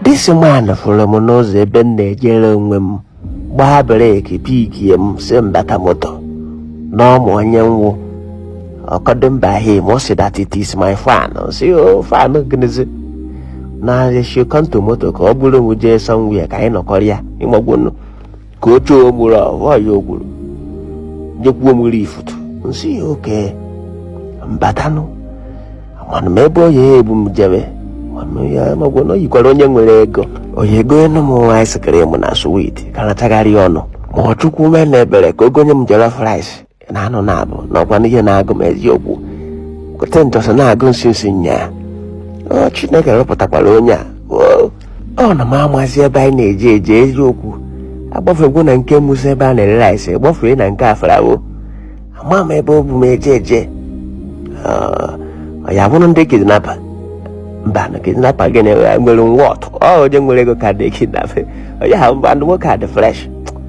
This man fụrụ m n'ụzọ ebe m na-ejere onwe m gbaa brake pikie m sị m bata moto na ọ ma onye m wụ ọkọdụ mba him ọ sị that it is my fan sị ọ fan gịnịzi na-asị come to moto ka o buru m jee somewhere ka anyị nọkọrọ ya ị magwonu ka ọ chọọ m ụrụ ahụ nwaanyị ogburu nyekwuo m nri ifutu m sị ya okay m batanụ mana m ebe onye a ebu m jebe mana ya magwa na o yikwara onye nwere ego ọ ya-egonyenụ m ice cream na sweet ka na-atagharị ọnụ ma ọ chukwu meenụ ebere ka o gonye m jollof rice na anụ na-abụ na ọ kwanụ ihe na-agụ m eziokwu gote njọsọ na-agụ m since nyaa ọ chineke rụpụtakwara onye a oo, ọ na m amazi ebe anyị na-eje eje eziokwu agbafegwo na nke Musa ebe a na-ere rice gbafee na nke afarawo ama m ebe o bu m eje eje Ah, ọ ya bụrụ ndị kidnapper mba na kidnapper gị na nwere moto onye nwere ego kaadị kidnapa ọ ya ha mba ndị nwoke a dị fresh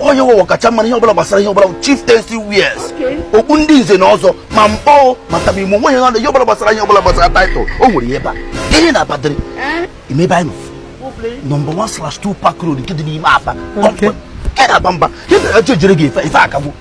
onye wụ ọkachamara ihe ọbụla gbasara ihe ọbụla chieftaincy wears okpu ndị nze na ọzọ ma mkpọ ma tabimo nwe ihe ihe ọbụla gbasara ihe ọbụla gbasara title o nwere ihe ba ihe na-abadịrị imebe anyị nọ nọmba 1 slash 2 park road nke dị n'ime Aba nke na-aba mba ihe na-eje ejere gị ife akagbu